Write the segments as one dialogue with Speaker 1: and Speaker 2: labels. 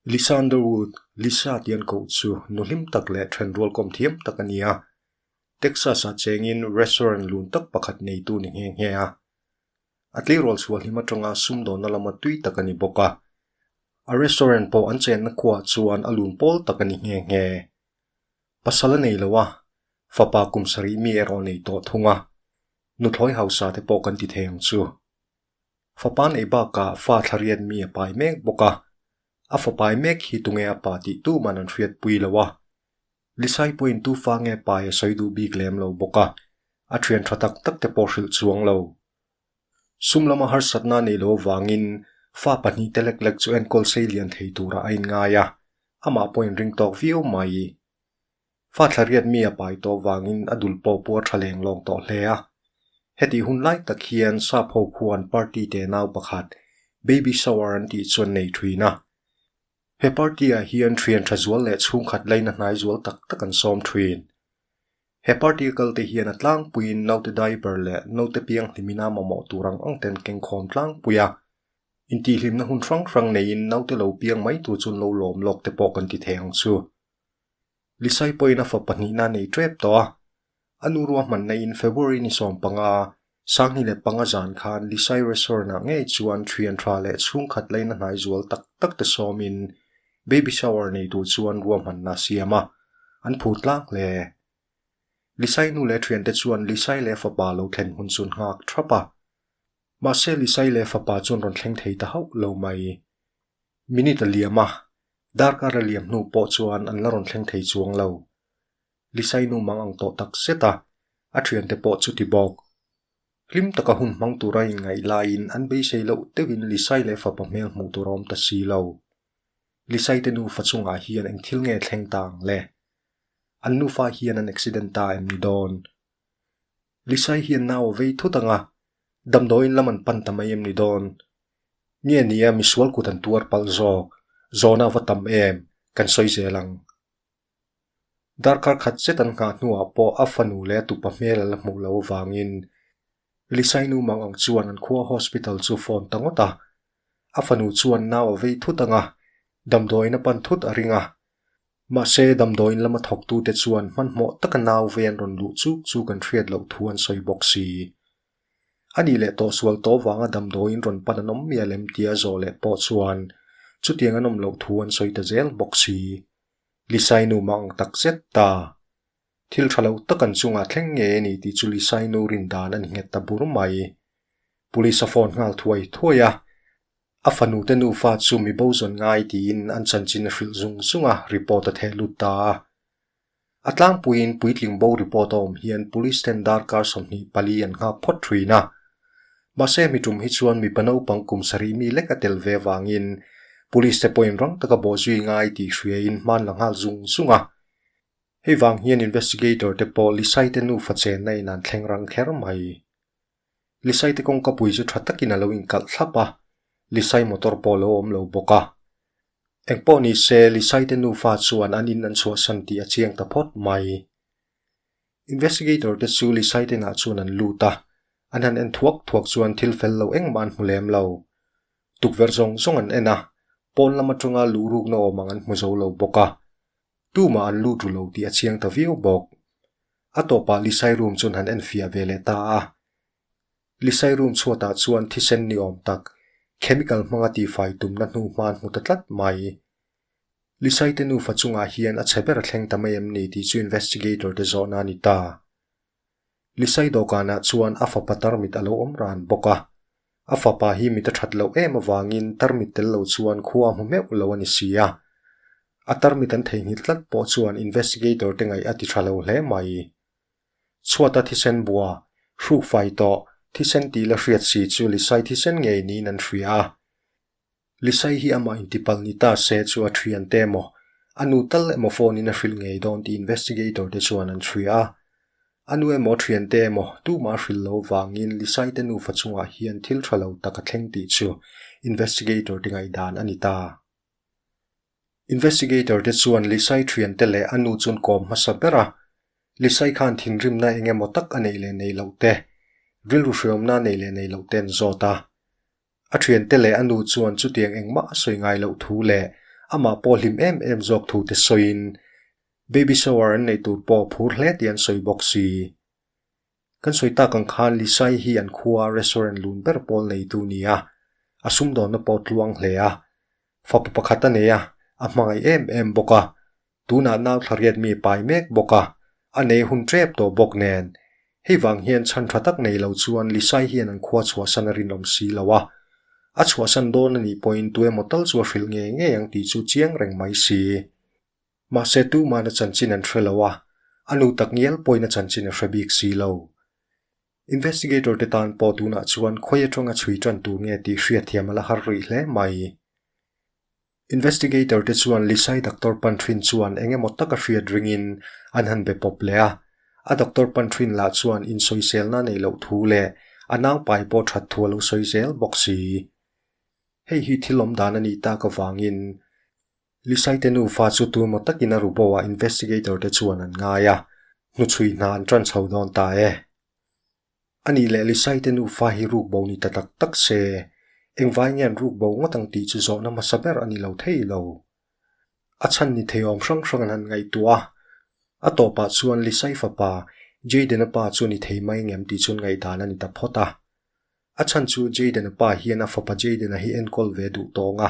Speaker 1: Lysander Wood, Lisa tih an koh chu nu hlim tak leh then rualkawm thiam tak a ni a. Texas-ah chengin restaurant lun tak pakhat neitu a ni nghe nghe a. A tleirawl chhuah hlim atanga sumdawna lama tui tak a ni bawk a. A restaurant pawh an chenna khuaah chuan a lun pawl tak a ni nghe nghe. pasal a nei lo a, fapa kum sarih mi erawh nei tawh thung a, nuthlawi hausa te pawh kan ti thei ang chu. Fapa nei bakah fa thla riat mi a pai mek bawk a, a fa pai mek hi tunge a pa tih tuman an hriatpui lo a, Lisai pawhin tufa nge pai a sawi duh bik lem lo bawk a, a thian tha tak tak te pawh hrilh chuang lo. Sum lama harsatna nei lo avangin fa pahnih te lek lek chu enkawl sei lian thei turah a inngai a, amah pawh a inring tawk viau mai i. Fa thlariat mi a pai tawh avangin a dul pawh pawh a tha leng lawng tawh hle a. Heti hun lai tak hian Sapho khuan party te nau pakhat baby shower an tih chu an nei thin a. He party ah hian thiantha zual leh chhungkhat laina hnai zual tak tak an sawm thin. He particle te hian a tlangpuiin naute diaper leh naute pianghlim ina mamawh tur ang ang ten kengkhawm tlangpui a. Intihhlimna hun hrang hrang neiin naute lo piang mai tur chun lo lawm lawk te pawh kan ti thei ang chu. Lisai pawhin a fa pahnihna a nei tep tawh a. A nu ruahman neiin February ni sawm panga Sanghni leh panga zan khan Lisai Resort ah ngei chuan thian tha leh chhungkhat laina hnai zual tak tak te sawmin Baby Shower nei tur chuan ruahmanna a siam a, an phur tlak hle. Lisai nu leh thian te chuan Lisai leh fapa lo thlen hun chu an nghak thap a. Mahse Lisai leh fapa chuan rawn thleng thei ta hauh lo mai. Minute a liam a, darkar a liam hnu pawh chuan an la rawn thleng thei chuang lo. Lisainu mang ang tawh tak zet a, a thiante pawh chu ti bawk. Hlim taka hun hmang tura inngaih laiin an beisei loh deuhin Lisai leh fapa hmel hmuh tur a awm ta si lo. Lisaite nufa chungah hian eng thil nge thleng ta ang le? An nufa hian an accident ta em ni dawn? Lisai hian nau a vei thut anga, damdawiin lam an pan ta mai em ni dawn? Nge nia misual kut an tuar palh zawk? Zawna va tam em? Kan sawi zel ang. Darkar khat zet an nghah hnuah pawh a fanu leh a tupa hmel ala hmuh loh avangin Lisainu mang ang chuan an khua hospital chu phone ta ngawt a. A fanu chuan nau a vei thut ang a, damdawiin a pan thut a ring a. Mahse, damdawiin lama thawktute chuan hmanhmawh taka nau vei an rawn luh chuk chu kan hriat loh thu an sawi bawk si. A nih leh tawh sual tawh vanga damdawiin rawn pan an awm miah lem tia zawh leh pawh chuan chutiang an awm loh thu an sawi ta zel bawk si. Lisainu mah ang tak zet ta. Thil tha loh tak an chungah thleng nge e nih tih chu Lisainu rin dan a ni nghet ta bur mai. Police a phone nghal thuai thuai a, a fanu te nufa chu mi bo zawn ngai tiin an chanchin a hrilh zung zung a, report a theh lut ta a. A tlangpuiin puitling bo report a awm hian police ten darkar sawmhnih pali an nghak phawt thin a. Mahse mi tum hi chuan mipa naupang kum sarih mi lek a tel ve avangin Police te pawhin rang taka bawh zui ngai tih hruaiin hmanla nghal zung zung a. Hei vang hian investigator te pawh Lisaite nu fachenna in an thleng rang kher mai. Lisaite kawngkapui chu tha takin a lo inkalh thlap a, Lisai motor pawh lo awm lo bawk a. Engpawh nise Lisaite nufa chuan an in an chhuahsan tih a chiang ta phawt mai. Investigator te chu Lisai te nah chuan an lut a, an han en thuak thuak chuan thil fel lo engmah an hmu lem lo. Tukverh zawng zawng an en a, pawn lam atanga luh rukna awm ang an hmu zo lo bawk a. Tumah an lut ru lo tih a chiang ta viau bawk. A tawpah Lisai room chuan han en fiah ve leh ta a. Lisai room chhuatah chuan thisen ni awm tak, chemical hmanga tifai tumna hnu hma an hmu ta tlat mai. Lisaite nufa chungah hian a chhe ber a thleng ta mai em ni tih chu investigator te zawhna a ni ta. Lisai dawhkanah chuan a fapa tarmit a lo awm ran bawk a. A fapa hi mit a that loh em avangin tarmit tel lo chuan khua a hmu meuh lo a ni si a. A tarmit an theihnghilh tlat pawh chuan investigator te ngaih a ti tha lo hle mai. Chhuata thisen bua, hruk fai tawh, thisen tih la hriat si chu Lisai thisen ngei niin an hria a. Lisai hi amah in tipal ni ta se chu a thian te emaw, a nu tal emaw phone in a hrilh ngei dawn tih investigator te chuan an chhuih a. A nu emaw thian te emaw, tumah hrilh lo vangin Lisai te nufa chungah hian thil tha lo tak a thleng tih chu investigator te ngaihdan a ni ta. Investigator te chuan Lisai thian te leh a nu chuan kawm hmasa ber a, Lisai khan thinrimna eng emaw tak a neih leh neih loh te, rilru hriawmna a neih leh neih loh te an zawt a. A ṭhiante leh a nu chuan chutiang engmah a sawi ngai loh thu leh amah pawh hlim em em zawk thu te sawiin baby shower an nei tur pawh phur hle tih an sawi bawk si. Kan sawi tak ang khan Lisai hi an khua restaurant lun ber pawl neitu ni a, a sum dawnna pawh tluang hle a. Fapa pakhat a nei a, a hmangaih em em bawk a, Tunah nau thla riat mi pai mek bawk a, a nei hun tep tawh bawk nen, hei vang hian chhan tha tak nei lo chuan Lisai hian an khua chhuahsan a rinawm si lo a. A chhuahsan dawn a nih pawhin tu emaw tal chu a hrilh ngei ngei ang tih chu chiang reng mai si. Mahse tumana chanchin an hre lo a, a nu tak ngial pawhin a chanchin a hre bik si lo. Investigator te tan pawh tunah chuan khawi atanga chhui tan tur nge tih hriatthiam a la har rih hle mai. Investigator te chuan Lisai Doctor Pantrin chuan eng emaw taka hriat ringin an han be pawp leh a. A Doctor Pantrin lah chuan insawiselna nei loh thu leh a naupai pawh that thu a lo sawi zel bawk si. Hei hi thil awm dan a nih tak avangin Lisai te nufa chu tu maw takin a ru bo a Investigator te chuan an ngai a. Hnuchhui hna an ṭan chho dawn ta e. A nih leh Lisaite nufa hi ruk bo ni ta tak tak se. Engvai nge an ruk bo ngawt ang tih chu zawhna hmasa ber a ni lo thei lo. A chhan ni thei awm hrang hrang an han ngaihtuah a. A tawpah chuan Lisai fapa, Jayden-a pa chu ni thei mai ngem tih chuan ngaihdan a ni ta phawt a. A chhan chu Jayden-a pa hian a fapa Jayden-a hi enkawl ve duh tawng a.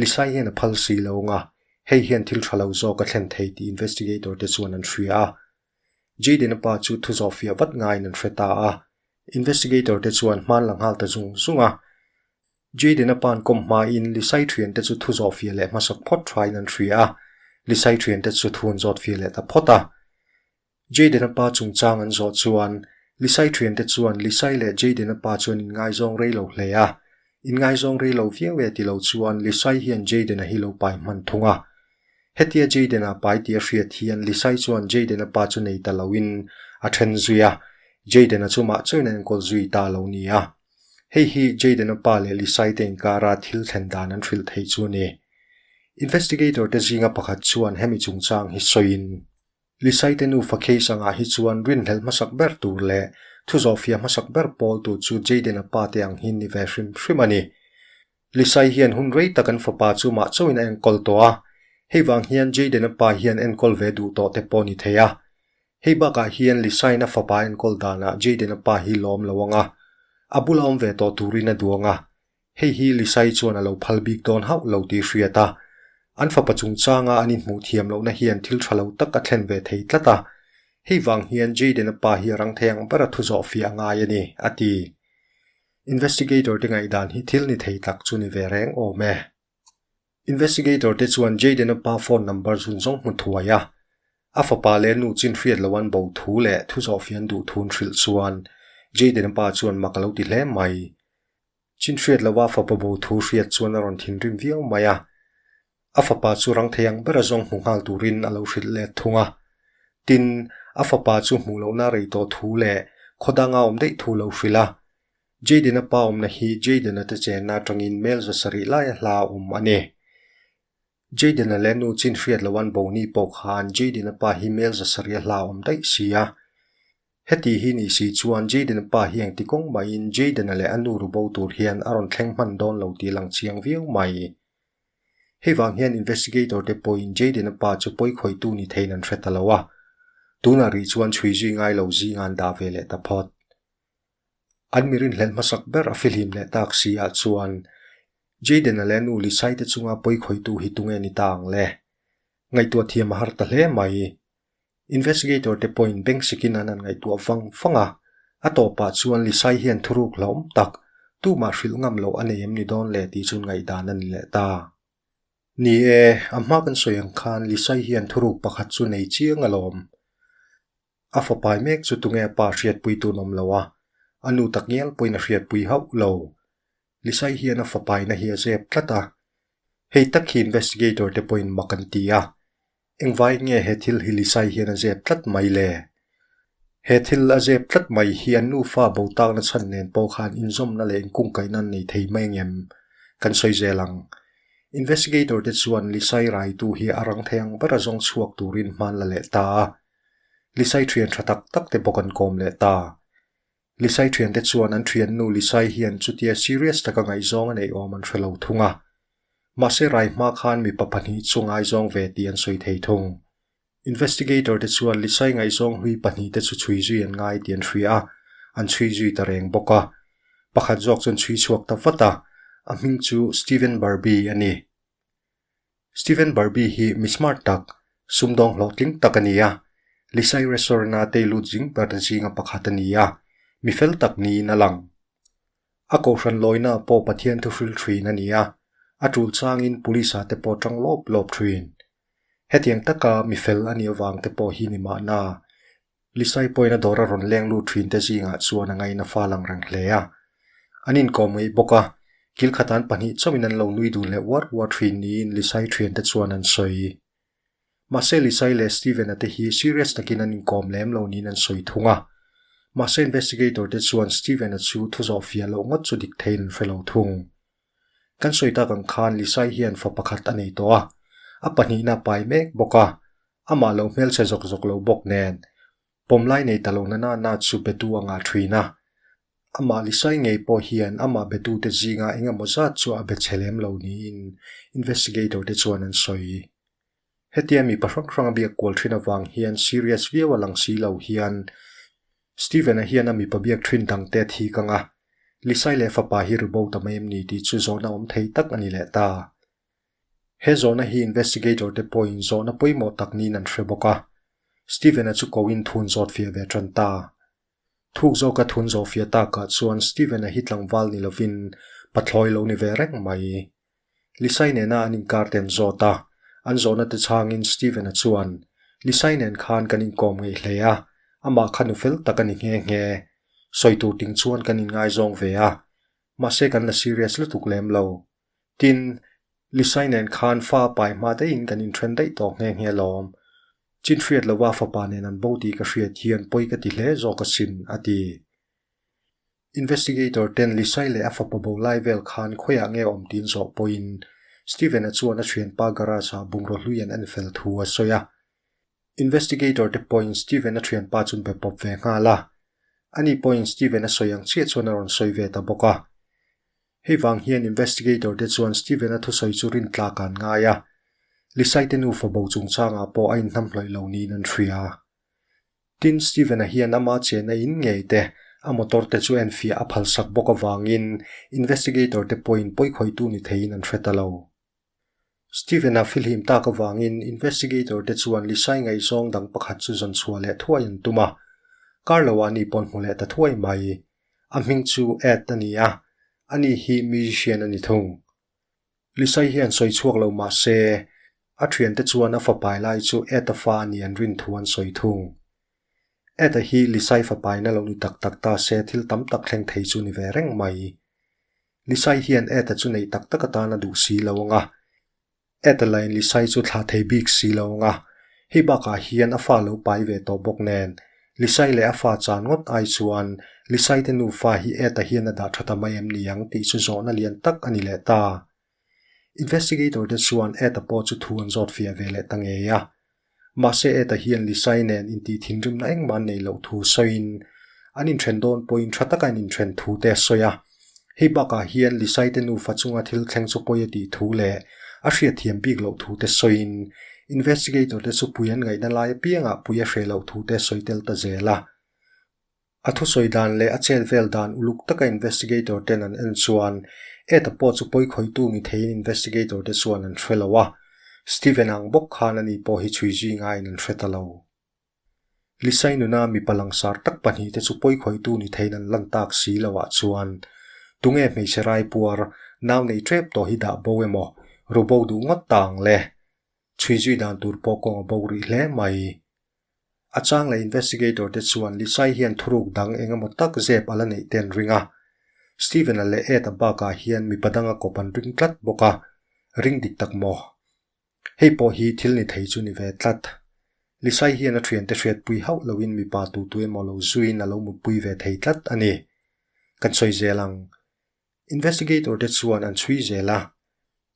Speaker 1: Lisai hian a phal si lo ang a, hei hian thil tha lo zawk a thlen thei tih investigator te chuan an hria a. Jayden-a pa chu thu zawh fiah vat ngaiin an hre ta a, investigator te chuan hmaan la nghal ta zung zung a. Jayden-a pa'n kawm hmain Lisai thian te chu thu zawh fiah leh hmasa phawt thain an hria a, Lisai thian te chu thu an zawt fiah leh ta phawt a. Jayden-a pa chungchang an zawh chuan Lisai thian te chuan Lisai leh Jayden-a pa chuan in ngaizawng rei lo hle a, in ngaizawng rei lo viau e ti lo chuan Lisai hian Jayden-a hi lo pai hman thung a. Hetia Jayden-a pai tia hriat hian Lisa-i chuan Jayden-a pa chu nei ta loin a then zui a, Jayden-a chu mah chawina enkawl zui ta lo ni a. Hei hi Jayden-a pa leh Lisa-i te inkara thil thlen dan an hrilh thei chu a ni. Investigator-te zinga pakhat chuan hemi chungchang hi sawiin. Lisaite nu Fakhei sangah hi chuan rinhlelh hmasak ber tur leh thu zawh fia hmasak ber pawl tur chu Jayden-a pa te ang hi'n ni ve hrim hrim a ni. Lisai hian hun rei tak an fapa chu mah chauhin a enkawl tawh a, hei vang hian Jayden-a pa hian enkawl ve duh tawh te pawh ni thei a. Hei bakah hian Lisain a fapa enkawl danah Jayden-a pa hi lawm lo ang a, a bula awm ve tawh turin a duang a, Hei hi Lisai chuan a lo phal bik dawn hauh lo tih hriat a, an fapa chungchanga an inhmuh thiam lohna hian thil tha lo tak a thlen ve thei tlat a. Hei vang hian Jayden-a pa hi a rang thei ang bera thu zawh fiah a ngai a ni, a ti. Investigator-te ngaihdan hi thil ni thei tak chu ni ve reng awm e. Investigator-te chuan Jayden-a pa phone number zun zawng hmu thuai a. A fapa leh a nu chin hriat lo an bo thu leh thu zawh fian duh thu an hrilh chuan Jayden-a pa chuan mak a lo ti hle mai. Chin hriat lova fapa bo thu hriat chuan a rawn thinrim viau mai a. A fapa chu rangthei ang bera zawng hmu nghal turin a lo hrilh let thung a. Tin, a fapa chu hmuh lohna rei tawh thu leh khawdanga awm daih thu lo hrilh a. Jayden-a pa awmna hi Jayden-a te chenna atangin hmelza sarih laia hla a awm a ni. Jayden-a le nu chin hriat lo an Bony pawh khan Jayden-a pa hi mel zasarih a hlaawm daih si a. Heti hi ni si chuan Jayden-a pa hi engti kawng mahin Jayden-a leh a nu ru bo tur hian a rawn thleng hman dawn lo tih a lang chiang viau mai. Hei vang hian investigator te pawhin Jayden-a pa chu pawi khawitu ni theihin an hre ta lo a. Tunah rih chuan chhui zui ngai lo zinga an dah ve leh ta phawt. An mi rinhlelh hmasak ber a fihlim leh tak si ah chuan Jayden-a leh a nu Lisai te chunga pawi khawitu hi tunge ni ta ang le? Ngaihtuah thiam a har ta hle mai. Investigator te pawhin beng sikin an han ngaihtuah vang vang a. A tawpah chuan Lisai hian thuruk hlauhawm tak, tumah hrilh ngam loh a nei em ni dawn le tih chuan ngaihdan a ni leh ta. Ni e, a hma kan sawi ang khan Lisai hian thuruk pakhat chu nei chiang alawm. A fapai mek chu tunge pa hriatpui tun awm lo a, a nu tak ngial pawhin a hriatpui hauh lo. Lisai hian a fapaina hi a zep tlat a. Hei tak khi investigator te pawhin mak an ti a. Engvai nge he thil hi Lisai hian a zep tlat mai le? He thil a zep tlat mai hi an nufa bo takna chhan nen pawh khan inzawmna leh inkungkaihna an nei thei mai ang em? Kan sawi zel ang. Investigator te chuan Lisai raitu hi a rang thei ang ber a zawng chhuak turin hmanla leh ta a. Lisai thian tha tak tak te bawk an kawm leh ta. Lisai thian te chuan an thiannu Lisai hian chutia serious taka ngaihzawng a nei awm an hre lo thung a. Mahse rai hma khan mipa pahnih chu ngaizawng ve tih an sawi thei thung. Investigator te chuan Lisai ngaihzawng hlui pahnih te chu chhui zui an ngai tih an hria a, an chhui zui ta reng bawk a. Pakhat zawk chuan chhui chhuak ta vat a, a hming chu Steven Barbie a ni. Steven Barbie hi mi smart tak, sumdawng hlawhtling tak a ni a. Lisai Restaurant-a tei lut zing per an zinga pakhat a ni a, mi fel tak niin a lang. A kohhran lawina pawh Pathian thu hrilh thin a ni a, a tul changin Police-a te pawh ṭang lawp lawp thin. Hetiang taka mi fel a nih avang te pawh hi nimahna, Lisai pawina dawr a rawn leng lut thin te zingah chuan a ngaina fal ang reng hle a. An inkawm ngei bawk a, kil kha tan pahnih chauhin an lo nui dun leh uar uar thin niin Lisai thian te chuan an sawi. Mahse Lisai leh Steven-a te hi serious takin an inkawm lem lo niin an sawi thung a. Mahse investigator te chuan Steven-a chu thu zawh fiah loh ngawt chu dik theiin an hre lo thung. Kan sawi tak ang khan Lisai hian fa pakhat a nei tawh a, a pahnihna pai mek bawk a, amah lo hmelchhe zawk zawk lo bawk nen, pawm lai nei ta lo nana na chu Betu a ngah ṭhin a. Amah Lisai ngei pawh hian amah Betu te zinga eng emaw zat chu a be chhe lem lo niin investigator te chuan an sawi. Hetia mi pa hrang hranga biak kual thin avang hian serious viau a lang si lo hian Steven-a hian a mipa biak thin dang te thik ang a, Lisai leh fapa hi ribo ta mai em ni tih chu zawhna awm thei tak a ni leh ta. He zawhna hi investigator te pawhin zawhna pawimawh tak niin an hre bawk a, Steven-a chu koin thun zawt fiah ve tan ta. Thuk zawka thun zawh fiah takah chuan Steven-a hi tlangval ni lovin pathlawi lo ni ve reng mai. Lisainen-a an inkar ten zawt a, an zawhna te changin Stephen-a chuan, Lisainen khan kan inkawm ngei hle a, amah kha nu fel tak a ni nghe nghe. Sawi tur ting chuan kan inngaizawng ve a, mahse kan la serious lutuk lem lo. Tin, Lisainen khan fa pai hma deiin kan inthen daih tawk nghe nghe lawm. Chin hriat lova fapa nen an bo tih ka hriat hian pawi ka ti hle zawk asin, a ti. Investigator ten Lisai leh a fapa bo lai vel khan khawiah nge awm tiin zawh pawhin Steven-a chuan a thianpa garage-ah bungraw hluian en fel thu a sawi a. Investigator te pawhin Steven-a thianpa chu be pawp ve nghal a. Ani pawhin Steven-a sawi ang chiah chuan a rawn sawi ve ta bawk a. Hei vang hian Investigator te chuan Steven-a thusawi chu rin tlak an ngai a. Lisai te nu fabo chungchangah pawh a inhnam hlawih lo niin an hria. Tin, Steven-a hian ama chena in ngei te, a motor te chu en fiah a phalsak bawk avangin investigator te pawhin pawikhawitu ni theiin an hre ta lo. Steven-a fihlim tak avangin investigator te chuan Lisai ngaihzawng dang pakhat chu zawn chhuah leh thuai an tum a. Carlo-a a ni pawn hmu leh ta thuai mai. A hming chu Ed a ni a, a ni hi musician a ni thung. Lisai hian sawi chhuak lo mah se, a thiante chuan a fapai lai chu Ed-a fa a ni an rin thu an sawi thung. Ed-a hi Lisai fapaina lo ni tak tak ta se thil tam tak thleng thei chu ni ve reng mai. Lisai hian Ed-a chu nei tak tak atan a duh si lo ang a. Ed-a lahin Lisai chu thlah thei bik si lo ang a, hei bakah hian a fa lo pai ve tawh bawk nen Lisai leh a fa chan ngawt ai chuan, Lisai te nufa hi Ed-a hian a dah tha ta mai em ni ang tih chu zawhna lian tak a ni leh ta. Investigator te chuan Ed-a pawh chu thu an zawt fiah ve leh ta ngei a. Mahse Ed-a hian Lisai nen intih thinrimna engmah an nei loh thu sawiin, an inthen dawn pawhin tha taka an inthen thu te a sawi a. Hei bakah hian Lisaite nufa chunga thil thleng chu pawi a tih thu leh a hriatthiam bik loh thu te sawiin investigator te chu Puian ngaihna lai apiangah Pui a hre loh thu te sawi tel ta zel a. A thusawi dan leh a chet vel dan uluk taka investigator ten an en chuan Ed-a pawh chu pawi khawitu ni theiin investigator te chuan an hre lo a. Steven ang bawk khan ani pawh hi chhui zui ngaiin an hre ta lo. Lisai nuna mipa langsar tak pahnih te chu pawi khawitu ni theiin an lan tak si lo ah chuan tunge hmeichhe rai puar nau nei ṭep tawh hi dah bo emaw, ru bo duh ngawt ta ang le. Chhui zui dan tur pawh kawng a bo rih hle mai. A chang leh investigator te chuan Lisai hian thuruk dang eng emaw tak zep a la neih ten ring a. Steven a leh Ed a bak ah hian mipa dang a kawp an ring tlat bawk a, ring dik tak maw. Hei pawh hi thil ni thei chu ni ve tlat. Lisai hian a thiante hriatpui hauh loin mipa tutu emaw lo zuiin a lo mutpui ve thei tlat a ni. Kan sawi zel ang. Investigator te chuan an chhui zel a,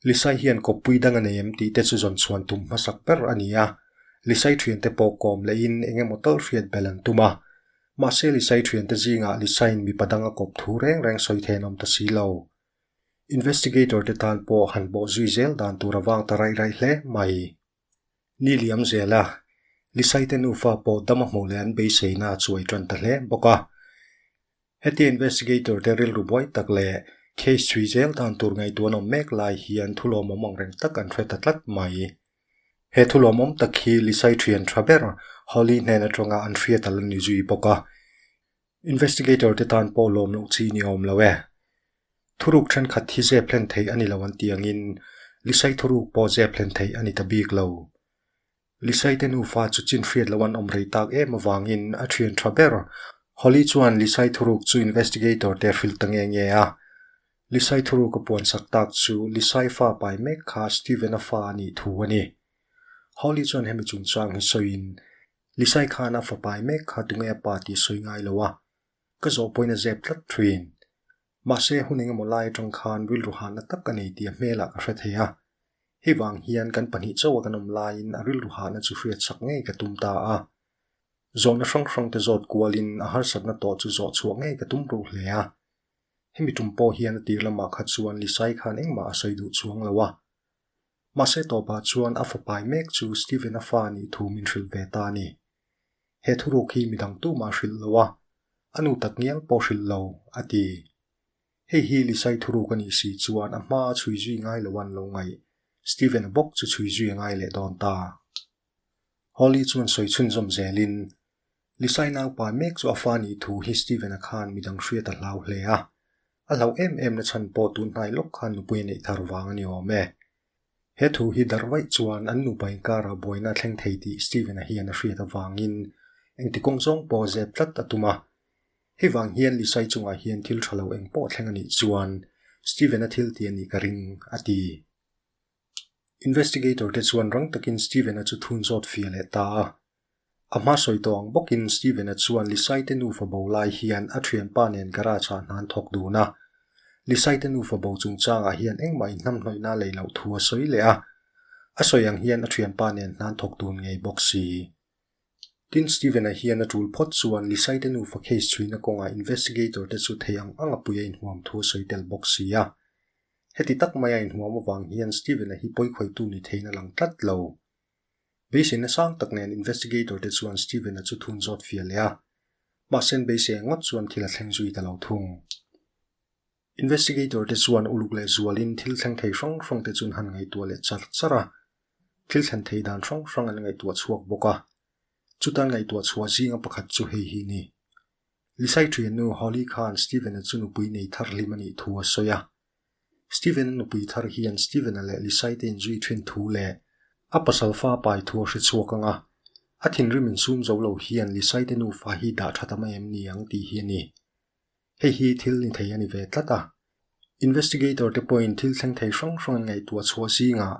Speaker 1: Lisai hian kawppui dang a nei em tih te chu zawn chhuan tum hmasak ber a ni a. Lisai thiante pawh kawm lehin eng emaw tal hriat belh an tum a. Mahse Lisai thiante zingah Lisai'n mipa danga kawp thu reng reng sawi theihin a awm ta si lo. Investigator te tan pawh han bawh zui zel dan tur a vang ta raih raih hle mai. Ni liam zel a, Lisai te nufa pawh dam a hmuh leh an beiseina a chuai tan ta hle bawk a. Heti investigator te rilru buai tak leh case chhui zel dan tur ngaihtuah an awm mek lai hian thulawmawm ang reng tak an hre ta tlat mai. He thulawmawm tak hi Lisai thian tha ber Holly hnen atanga an hriatal a ni zui bawk a. Investigator te tan pawh lawm loh chi ni awm lo e. Thuruk thenkhat hi zep hlen thei a ni lo an tih angin Lisai thuruk pawh zep hlen thei a ni ta bik lo. Lisai te nufa chu chin hriat lo an awm rei tak em avangin a thian tha ber. Holly chuan Lisai thuruk chu investigator te hrilh ta nge nge a. Lisai thuruk a puan sak tak chu Lisai fa pai mek kha Steven-a fa a nih thu a ni. Holly chuan hemi chungchang hi sawiin Lisai khan a fapai mek kha tunge a pa tih sawi ngai lo a, ka zawh pawhin a zep tlat thin. Mahse hun engemaw lai atang khan rilru hanna tak a nei tih a hmelah ka hre thei a. Hei vang hian kan pahnih chauha kan awm laiin a rilru hahna chu hriat sak ngei ka tum ta a. Zawhna hrang hrangte zawt kualin a harsatna tawh chu zawh chhuah ngei ka tum reuh hle a. Hemi tum pawh hian a tir lamah kha chuan Lisai khan engmah a sawi duh chuang lo a. Mahse tawpah chuan a fapai mek chu Stephen-a fa nih thu min hrilh ve ta ni. He thuruk hi midang tumah hrilh lo a, a nu tak ngial pawh hrilh lo, a ti. Hei hi Lisa-i thuruk a nih si chuan a hma a chhui zui ngai lo an lo ngaih, Stephen-a bawk chu chhui zui a ngai leh dawn ta. Holly chuan sawi chhunzawm zelin, Lisai naupa mek chu a fa nih thu hi Steven-a khan midang hriat a hlau hle a. A hlauh em em na chhan pawh tun hnai lawk khan nupui a neih thar vang a ni awm e. He thu hi darh vaih chuan an nupa inkara buaina a thleng thei tih Steven-a hian a hriat avangin engti kawng zawng pawh zep tlat a tum a. Hei vang hian Lisai chungah hian thil tha lo eng pawh thleng a nih chuan Steven-a thil ti a nih ka ring, a ti. Investigator te chuan rang takin Steven-a chu thun zawt fia leh ta a. A hma sawi tawh ang bawkin Steven-a chuan Lisaite nufa bo lai hian a thianpa nen garage-ah hnan thawk dun a. Lisaite nufa bo chungchangah hian engmah inhnamhnawihna lei loh thu a sawi leh a. A sawi ang hian a thianpa nen hnan thawk dun ngei bawk si. Tin, Steven-a hian a tul phawt chuan Lisaite nufa case chhuina kawngah investigator-te chu thei ang ang apuia inhuam thu a sawi tel bawk si a. Heti tak maia inhuam avang hian Steven-a hi pawikhawitu ni theihin a lang tlat lo. Beiseina sang tak nen investigator te chuan Steven-a chu thun zawt fia leh a, mahsen beise ngawt chuan thil a thleng zui ta lo thung. Investigator te chuan uluk leh zualin thil thleng thei hrang hrang te chu an han ngaihtuah leh char char a, thil thlen thei dan hrang hrang an ngaihtuah chhuak bawk a. Chuta an ngaihtuah chhuah zinga pakhat chu hei hi a ni. Lisai thiannu Holly khan Steven-a chu nupui nei thar hlim a nih thu a sawi a. Steven-a nupui thar hian Steven-a leh Lisai-te'n zui thin thu leh a pasal fa pai thu a hre chhuak ang a. A thinrim in sum zo lo hian Lisai-te nufa hi dah tha ta mai em ni ang tih hi a ni. Hei hi thil ni thei a ni ve tlat a. Investigator-te pawhin thil thleng thei hrang hrang an ngaihtuah chhuah zingah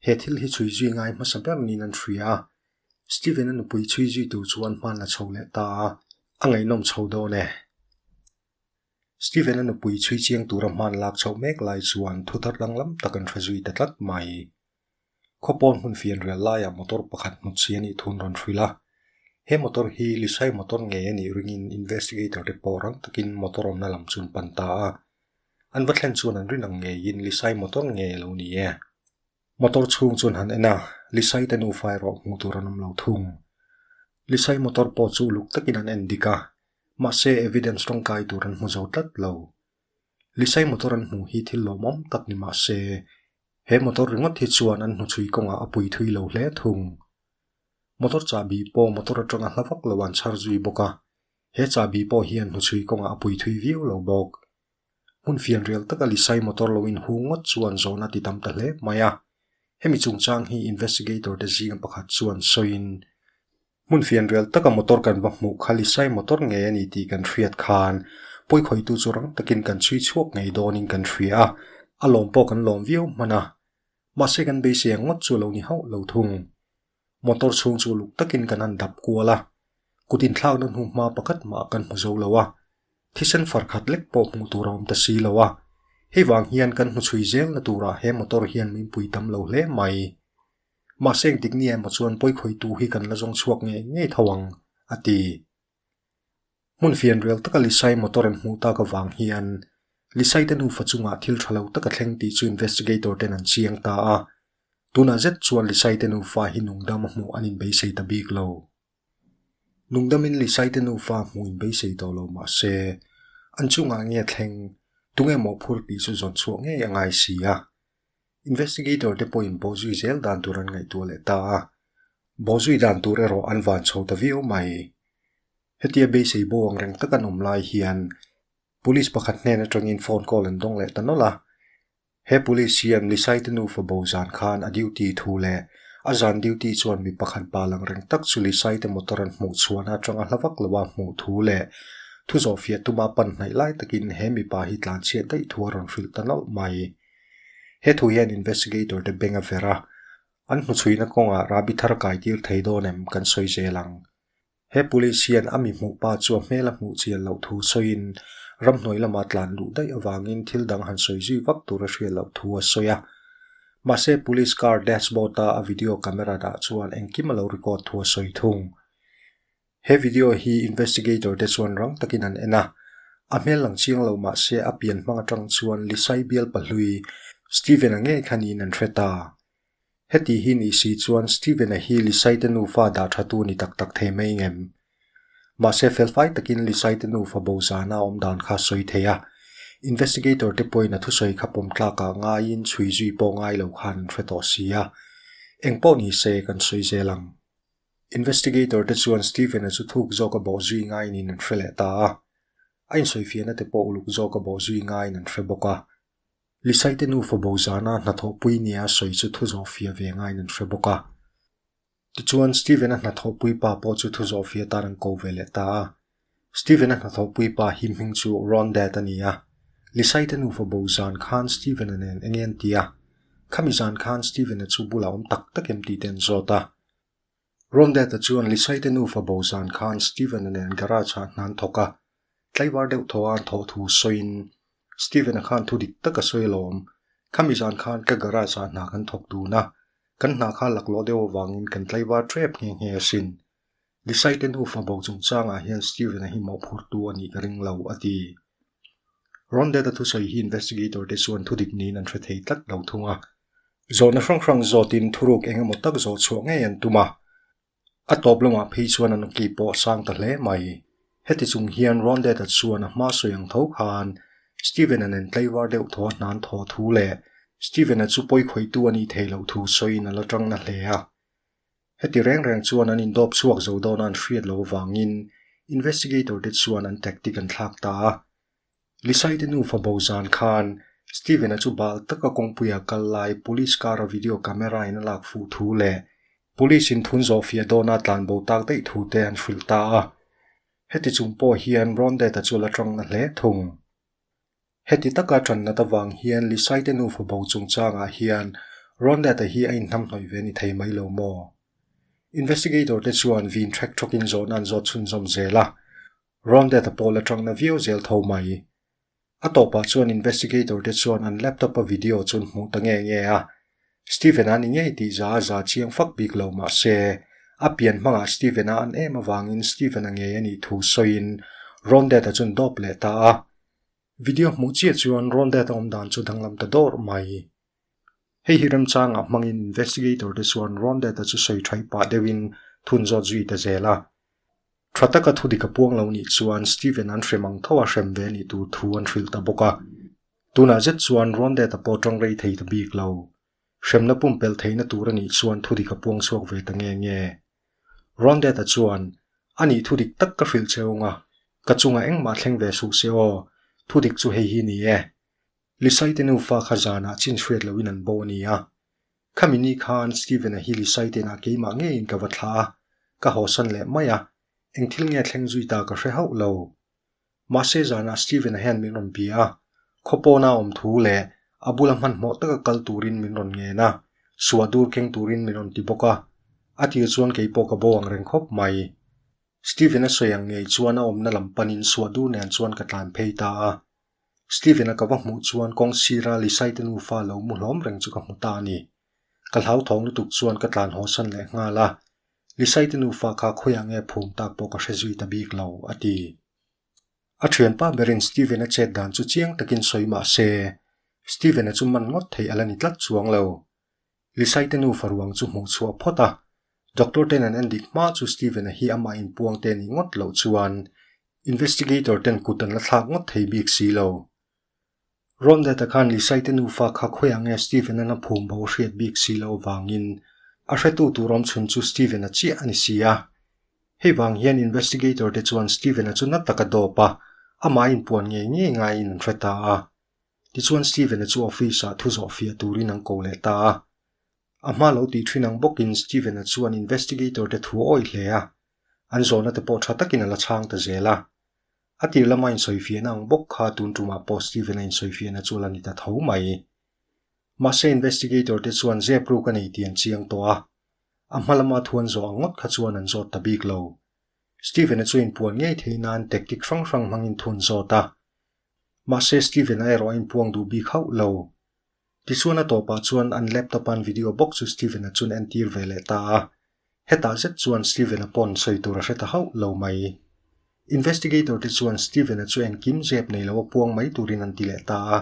Speaker 1: he thil hi chhui zui ngai hmasa ber niin an hria a. Steven-a nupui chhui zui tur chu an hmanla chho leh ta a, a ngaihnawm chho dawn e. Steven-a nupui chhui chiang tura hman lak chhoh mek lai chuan thuthar danglam tak an hre zui ta tlat mai. Khawpawn hmun fian rial laiah motor pakhat hnut si a nih thu an rawn hrilh a. He motor hi Lisai motor ngei a nih ringin investigator te pawh rang takin motor awmna lam chu an pan ta a. An va thlen chuan an rin ang ngeiin Lisai motor nge lo ni e? Motor chhung chuan han en a, Lisai te nufa erawh hmuh tur an awm lo thung. Lisai motor pawh chu uluk takin an en dik a, Mahse evidence tawngkai tur an hmu zo tlat lo. Lisai motor an hmuh hi thil lawm awm tak ni mahse, he motor ringawt hi chuan an hnu chhui kawngah a pui thui lo hle thung. Motor chahbi pawh motor atanga hla vak lo an chhar zui bawk a, he chahbi pawh hi an hnu chhui kawngah a pui thui viau lo bawk. Hmun fian rial taka Lisai motor lo in hung ngawt chuan zawn a ti tam ta hle mai a. Hemi chungchang hi investigator te zinga pakhat chuan sawiin Hmun fian rial taka motor kan va hmuh kha Lisai motor nge a ni tih kan hriat khan pawi khawitu chu rang takin kan chhui chhuak ngei dawnin kan hria a, a lawm pawh kan lawm viau hman a, mahse kan beisei ang ngawt chu a lo ni hauh lo thung. Motor chhung chu luk takin kan han dap kual a, kut inthlakna hnu hma pakhat mah kan hmu zo lo a, thisen far khat lek pawh hmuh tur a awm ta si lo a, hei vang hian kan hmu chhui zel na turah he motor hian min pui tam lo hle mai. Mahse eng tik nge emaw chuan pawikhawitu hi kan la zawng chhuak ngei ngei tho ang, a ti. Hmun fian rel taka Lisai motor an hmuh tak avang hian Lisai te nufa chungah thil tha lo tak a thleng tih chu investigator ten an chiang ta a. Tunah zet chuan Lisai te nufa hi nungdam a hmuh an inbeisei ta bik lo. Nungdamin Lisai te nufa hmuh inbeisei tawh lo mahse, an chungah nge thleng, tunge mawhphur tih chu zawn chhuah ngei a ngai si a. Investigator te pawhin Bawzui zel dan tur an ngaihtuah leh ta a, Bawzui dan tur erawh an van chho ta viau mai. Hetia beisei bo ang reng tak an awm lai hian Police pakhat hnen atangin phone call an dawng leh ta nawlh a, he Police siam Lisaite nufa bo zan khan a duty thu leh a zan duty chuan mi pakhat bal ang reng tak chu Lisaite motor an hmuh chhuahna atanga hla vak lo a hmuh thu leh thu zawhfiah tuma pan hnaih lai takin he mipa hi tlanchhiat daih thu a rawn hrilh ta nawlh mai. He thu hian investigator te beng a fer a, an hmu chhuina kawngah Rabi thar kaitir thei dawn em kan sawi zel ang. He police hian a mi hmuh pa chu a hmel a hmuh chian loh thu sawiin ramhnuai lamah tlan duh daih avangin thil dang han sawi zui vak tur a hriat loh thu a sawi a. Mahse police car dashboard a a video camera dah chuan engkim a lo record thu a sawi thung. He video hi investigator te chuan rang takin an en a, a hmel ang chiang lo mahse a pian hmang atang chuan Lisai bialpa hlui Steven-a ngei kha niin an hre ta. Heti hi nih si chuan Steven-a hi Lisai te nufa dah tha tu ni tak tak thei mai ngem. Mahse felfai takin Lisai te nufa bo zana a awm dan kha a sawi thei a, investigator te pawhin a thusawi kha pawm tlakah ngaiin chhui zui pawh ngai lo khan an hre tawh si a, engpawh nise kan sawi zel ang. Investigator te chuan Stephen-a chu thuk zawk a bawh zui ngai niin an hre leh ta a. A insawifiahna te pawh uluk zawk a bawh zui ngaiin an hre bawk a. Lisai te nu fawbo zana hnathawh pui nia sawi chu thu zawh fiah ve ngaiin an hre bawk a. Tichuan, Stephen-a hnathawh pui pa pawh chu thu zawh fiah tan an ko ve leh ta a. Stephen-a hnathawhpui pa hi hming chu Ron Dad a ni a. Lisai-te nufa bo zan khan Stephen-a nen enge an ti a? Khami zan khan Stephen-a chu bula awm tak tak em tihte an zawt a. Ron Dad-a chuan Lisai-te nufa bo zan khan Stephen-a nen garage-ah an hnan thawk a. Tlaivar deuh thaw a an thawh thu sawiin, Stephen-a khan thu dik taka sawi alawm. Khami zan khan ka garage-ah hna kan thawk dun a, kan hna kha laklawh deuh avangin kan tlaivar ṭep nghe nghe asin, Lisai te nu fabo chungchangah hian Steven-a hi mawhphurtu a nih ka ring lo, a ti. Rondette-a thusawi hi investigator te chuan thudik niin an hre thei tlat lo thung a. Zawhna hrang hrang zawtin thuruk eng emaw tak zawh chhuah ngei an tum a, a tawp lamah phei chuan an awki pawh a sang ta hle mai. Heti chung hian Rondette-a chuan a hma sawi ang tho khan Steven-a nen tleivar deuh thaw hnan thaw thu leh Steven-a chu pawi khawihtu a nih theih loh thu sawiin a la ṭangna hle a. Heti reng reng chuan an indawp chhuak zo dawn a an hriat lo avangin investigator te chuan an tactic an thlak ta a. Lisaite nu fabo zan khan Steven-a chu bal taka kawngpui ah kal lai police car-a video camera in a lak fuh thu leh police in thun zawh fiah dawna tlan bo tak daih thu te an hrilh ta a. Heti chung pawh hian Rondet-a chu a la tangna hle thung. Heti taka ṭan nat avang hian Lisaite nu fabo chungchangah hian Ronette-a hi a inhnamhnawih ve ni thei mai lo maw? Investigator-te chuan vin ṭhek ṭhawkin zawhna an zawt chhunzawm zel a, Ronette-a pawh la ṭangna viau zel tho mai. A tawpah chuan investigator-te chuan an laptop-a video chu an hmuh ta nge nge a. Steven-a ni ngei tih za a za chiang fak bik lo mahse, a pian hmangah Steven-a an em avangin Steven-a ngei a nih thu sawiin Ronette-a chun dawp leh ta a. Video hmuh chiah chuan Ron Dad a awm dan chu danglam ta dawr mai. Hei hi remchangah hmangin investigator te chuan Ron Dad-a chu sawi thai pah deuhin thun zawt zui ta zel a. Tha taka thudik a puang lo nih chuan Steven an hrem ang tho a, hrem ve a nih tur thu an hrilh ta bawk a. Tunah zet chuan Ron Dad-a pawh ṭang rei thei ta bik lo. Hremna pumpelh theihna tur a nih chuan thudik a puang chhuak ve ta nge nge. Rondette-a chuan, A nih thudik tak ka hrilh che ung a, ka chungah engmah thleng ve suh se aw, thudik chu hei hi ni e. Lisaite nufa kha zanah chin hriat loin an bo a ni a. Khami ni khan Steven-a hi Lisaite nah keimah ngeiin ka va thlah a, ka hawsan leh mai a, eng thil nge thleng zui ta ka hre hauh lo. Mahse zanah Stephen-a hian min rawn bia a, khaw pawna awm thu leh a bula hmanhmawh taka kal turin min rawn ngen a, suah dur keng turin min rawn ti bawk a, a tir chuan kei pawh ka bo ang reng khawp mai. Stephen-a sawi ang ngei chuan a awmna lam panin suah dur nen chuan ka tlan phei ta a. Stephen-a ka va hmuh chuan kawng sira Lisai-te nufa lo mu hlawm reng chu ka hmu ta a ni. Ka hlauthawng lutuk chuan ka tlan hawsan leh nghal a, Lisaite nufa kha khawiah nge phum tak pawh ka hre zui ta bik lo, a ti. A thianpa berin Steven-a chet dan chu chiang takin sawi mah se, Steven-a chu man ngawt thei a la ni tlat chuang lo. Lisaite nufa ruang chu hmuh chhuah phawt a, doctor ten an en dik hma chu Steven-a hi amah in puang te a nih ngawt loh chuan investigator ten kut an la thlak ngawt thei bik si lo. Rondet-a khan Lisaite nufa kha khawiah nge Stephen-a na phum bo a hriat bik si lo avangin a hretu tur awmchhun chu Stephen-a chiah a ni si a. Hei vang hian investigator te chuan Stephen-a chu na taka dawp a, amah in puan ngei ngei ngaiin an hre ta a. Tichuan Stephen-a chu office-ah thu zawh fiah turin an ko leh ta a. A hma lo tih thin ang bawkin Stephen-a chuan investigator te thu a awih hle a, an zawnate pawh tha takin a la chhang ta zel a. A tir lama insawi fiah na ang bawk kha tun tumah pawh Stephen-a insawi fiah na chu a la ni ta tho mai. Mahse investigator te chuan zep ruk a nei tih an chiang tawh a, a hma lama thuan zawh ang ngawt kha chuan an zawt ta bik lo. Stephen-a chu inpuan ngei theih nan tactic hrang hrang hmangin thun zawt a. Mahse Stephen-a erawh a inpuang duh bik hauh lo. Tisuana tawpah chuan an laptop-a'n video bawk chu Steven-a chuan a entir ve leh ta a. Hetah zet chuan Steven-a pawn sawi tur a hre ta hauh lo mai. Investigator-te chuan Steven-a chu engkim zep nei lo a puang mai turin an ti leh ta a.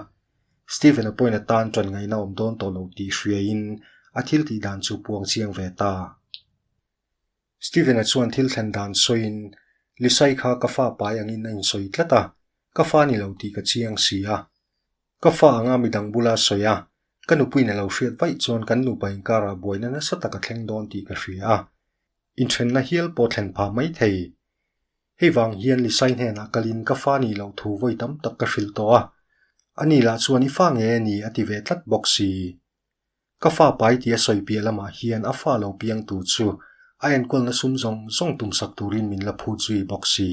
Speaker 1: Steven-a point atan tawnngaihna awm dawn tawh lo tih hriain a thil tih dan chu puang chiang ve ta. Steven-a chuan thil thlen dan sawiin, Lisa-i kha ka fa pai angin a insawi tlat a, ka fa ni lo tih ka chiang si a. Ka fa anga midang bula sawi a, ka nupuiin a lo hriat vaih chuan kan nupa inkarah buaina nasa tak a thleng dawn tih ka hria a. Inthenna hial pawh thlen phah mai thei. Hei vang hian Lisai hnenah kalin ka fa nih loh thu vawi tam tak ka hrilh tawh a, a ni lah chuan i fa nge ni a ti ve tlat bawk si. Ka fa pai tia sawi piah lamah hian a fa lo piang tur chu a enkawlna sum zawng zawng tum sak turin min la phut zui bawk si.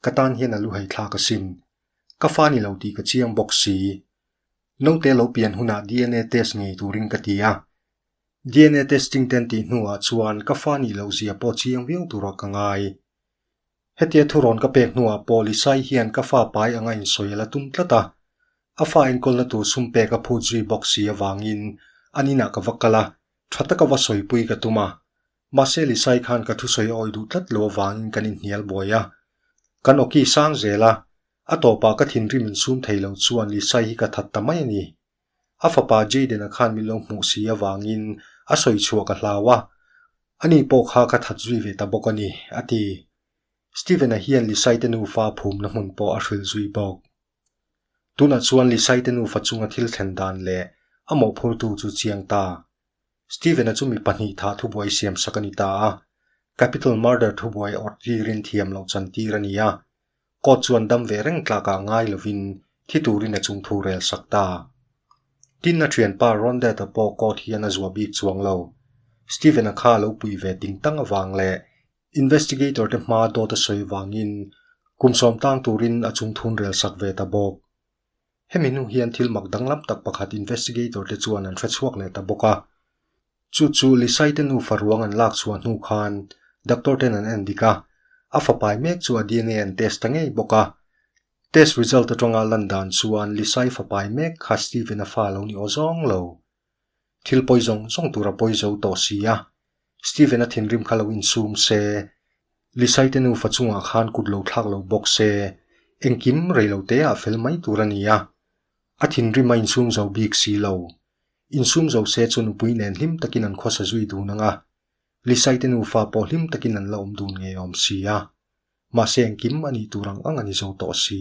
Speaker 1: Ka tan hian a lu hei thla ka sin. Ka fa ni lo tih ka chiang bawk si. Naute lo pian hunah dna test ngei turin ka ti a. Dna testing ten tih hnuah chuan ka fa ni lo zia pawh chiang viau tura ka ngai. Hetia thu rawn ka pek hnuah Polisai hian ka fa pai anga insawi a la tum tlat a. A fa enkawlna tur sumpek a phut zui bawk si avangin an inah ka va kal a, tha taka va sawipui ka tum a. Mahse Lisai khan ka thusawi awi duh tlat lo avangin kan inhnial buai a. Kan awki sang zel a, a tawpah ka thinrim in sum thei lo chuan Lisai hi ka that ta mai a ni. A fapa Jayden-a khan min lo hmuh si avangin a sawi chhuah ka hlau a, ani pawh kha ka that zui ve ta bawk a ni, a ti. Steven-a hian Lisai-te nufa phumna hmun pawh a hrilh zui bawk. Tunah chuan Lisaite nufa chunga thil thlen dan leh a mawhphurtu chu chiang ta. Stephen-a chu mi pahnih thah thubuai siam sak a ni ta a, capital murder thubuai awrh chi rinthiam lo chan tir a ni a. Court chuan dam ve reng tlakah ngai lovin thi turin a chung thu rel sak ta. Tin, a thianpa Ron Dad-a pawh court hian a zuah bik chuang lo. Stephen-a kha a lo pui ve tingtang avang leh Investigator te hma dawt a sawi vangin kum sawm tang turin a chung thun rel sak ve ta bawk. Hemi hnu hian thil mak danglam tak pakhat Investigator te chuan an hre chhuak leh ta bawk a. Chu chu Lisai te nufa ruang an lak chhuah hnu khan Doctor ten an en dik a, a fapai mek chu a dna an test ta ngei bawk a. Test result atanga lan dan chuan Lisai fapai mek kha Steven-a fa lo ni aw zawng lo. Thil pawi zawng zawng tur a pawi zo tawh si a, Stephen-a thinrim kha lo insum se, Lisaite nufa chungah khan kut lo thlak lo bawk se, engkim rei lo te a fel mai tur a ni a. A thinrim a insum zo bik si lo. Insum zo se chu nupui nen hlim takin an khawsa zui dun anga, Lisaite nufa pawh hlim takin an la awm dun ngei awm si a. Mahse engkim a nih tur ang ang a ni zo tawh si.